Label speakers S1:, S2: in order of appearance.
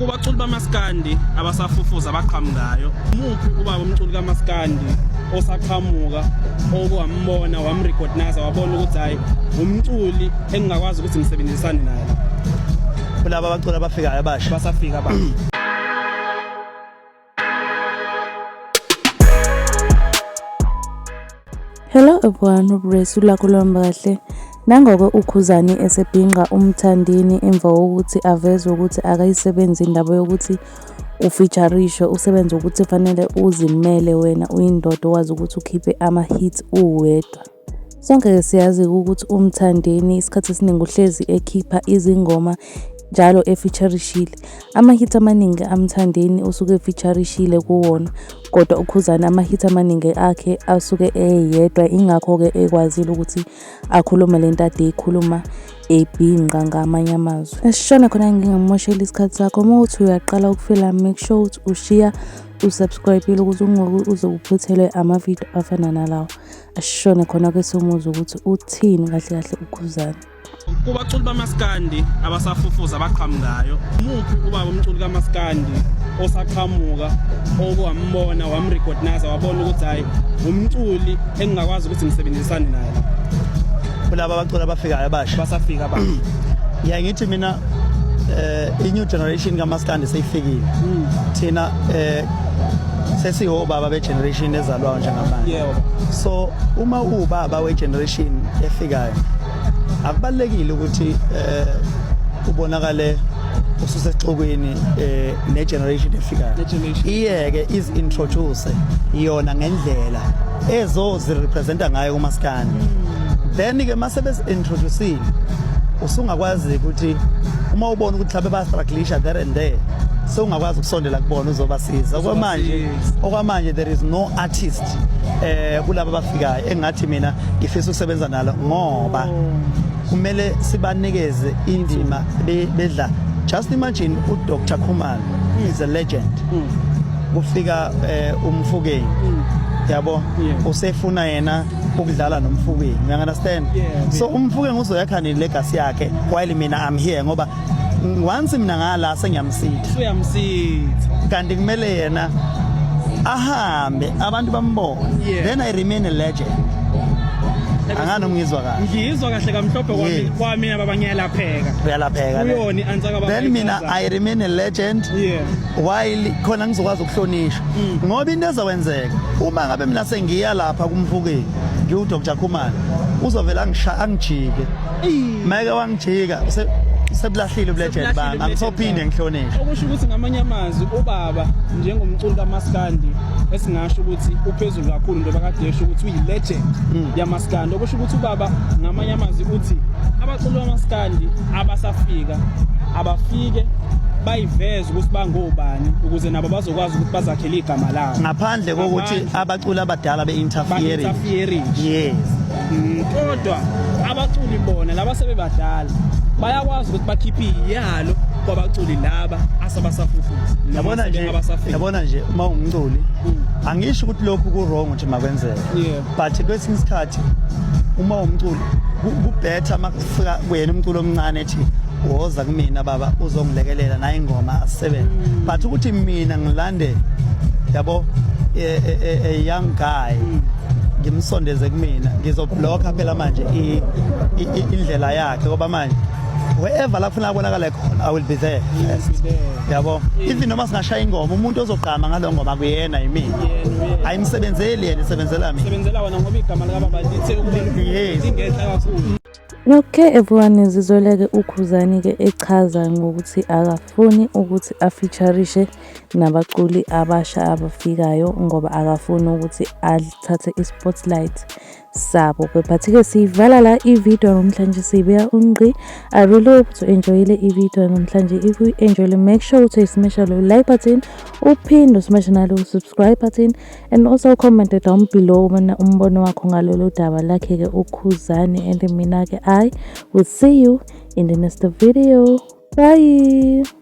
S1: kubaculi bamaskandi abasafufuza abaqhamukayo umuphi ubaba umculi kamaskandi osaqhamuka okwambona wamrecognize wabona ukuthi hayi umculi engingakwazi ukuthi ngisebenzisane naye kulaba
S2: abaculi abafikayo abasha basafika abasha
S3: Hello everyone, uBresu lakho luhamba kahle. Nangoko uKhuzani esebhinqa uMthandeni emva kokuthi aveze ukuthi akayisebenzi indaba yokuthi ufeaturishwe usebenza ukuthi fanele uzimele wena uyindoda owazi ukuthi ukhiphe ama-hits uwedwa. Sonke-ke siyazi ukuthi uMthandeni isikhathi esiningi uhlezi ekhipha izingoma njalo efeaturishile. Ama-hit amaningi aMthandeni usuke efeaturishile kuwona kodwa uKhuzani ama-hit amaningi akhe asuke eyedwa ingakho-ke ekwazile ukuthi akhulume le nto ade eyikhuluma ebhinqa ngamanye amazwi. Esishona khona ngingamosheli isikhathi sakho uma uthi uyaqala ukufela make sure ukuthi ushiya usubscribe-ile ukuthi ungoku uze uphuthelwe amavidiyo afana nalawa. ashone khona ke somuzwa ukuthi uthini kahle kahle ukhuzana kubaculi
S1: bamaskandi abasafufuza abaqhamukayo umuphi ubaba umculi kamaskandi osaqhamuka okuwambona wamrecognize wabona ukuthi hhayi umculi engingakwazi ukuthi ngisebenzisane naye kulaba
S2: abaculi abafikayo abasha basafika abasha
S1: ngiyaye ngithi mina
S2: um i-new generation kamaskandi seyifikile hmm. thina um sesihobaba begeneration ezalwayo njengamanje so
S1: uma
S2: uwubaba wegeneration efikayo akubalekile ukuthi eh ubonakale ususexokweni eh negeneration efikayo iyeke is introduce iyona ngendlela ezozi representa ngayo umaskani then ke mase bes introducing usungakwazi ukuthi uma ubona ukuthi mhlawumbe ba strugglisha there and there sewungakwazi ukusondela kubona uzobasiza kwamanje okwamanje there is no artist eh kulabo abafikayo engathi mina ngifisa ukusebenza nalo ngoba kumele sibanikeze indima bedla just imagine u Dr Khumalo hmm. is a legend hmm. kufika eh, umfukeni hmm. yabo usefuna yena ukudlala nomfukeni you understand so umfukeni uzoyakha ne legacy yakhe while mina i'm here ngoba once mina ngala sengiyamsitha uyamsitha
S1: kanti kumele
S2: yena ahambe abantu bambone yeah. then i remain a legend angani umngizwa kahle ngizwa kahle kamhlophe
S1: kwami kwami baba ngiyalapheka uyalapheka uyoni
S2: antsaka baba then
S1: mina i remain
S2: a legend yeah while khona ngizokwazi ukuhlonishwa mm. ngoba into ezokwenzeka uma ngabe mina sengiya lapha kumfukeni ngiwu Dr Khumalo uzovela angishaya angijike Mike wangijika sebulahlile ubulegend bami angisophinde ngihlonishwe okusho ukuthi ngamanye
S1: amazwi ubaba njengomculi kamaskandi esingasho ukuthi uphezulu kakhulu njengoba kade esho ukuthi uyilegend hmm. yamaskandi okusho ukuthi ubaba ngamanye amazwi uthi abaculi bamaskandi abasafika abafike bayiveze ukuthi bangobani ukuze nabo bazokwazi ukuthi bazakhele igama labo ngaphandle kokuthi
S2: abaculi abadala be-interfering yes kodwa
S1: abaculi bona laba sebebadala bayakwazi ukuthi bakhiphe iyalo kwabaculi laba asabasafufuza yabona nje
S2: yabona nje uma ungumculi mm. angisho ukuthi lokhu ku wrong ukuthi makwenzeke but kwesinye isikhathi uma umculi kubhetha Fika kuyena umculo omncane ethi woza kumina baba uzongilekelela naye ingoma asisebenze. Mm. But ukuthi mina ngilande yabo a, e, a, e, e, a young guy mm. ngimsondeze kumina ngizoblocker phela manje indlela yakhe ngoba manje wherever la kufuna kubonakala khona i will be there first yabo even noma singashaya ingoma umuntu ozogqama ngalo ngoma kuyena yimina ayimsebenzeli yena isebenzela mina sebenzela wona ngoba igama
S1: likababa lithe ukulingehla kakhulu Okay
S3: everyone izizoleke ukhuzani ke echaza ngokuthi akafuni ukuthi afeaturishe nabaculi abasha abafikayo ngoba akafuni ukuthi athathe ispotlight sabo kephathi-ke siyivala la ividiyo namhlanje siyibeka ungqi i really hope ukuthi enjoyile ividiyo namhlanje if you enjoyile make sure ukuthi uyisimesha lo like button uphinde usimeshe nalo subscribe button and also comment down below mina umbono wakho ngalolu daba lakhe-ke ukhuzani and mina-ke i will see you in the next video bye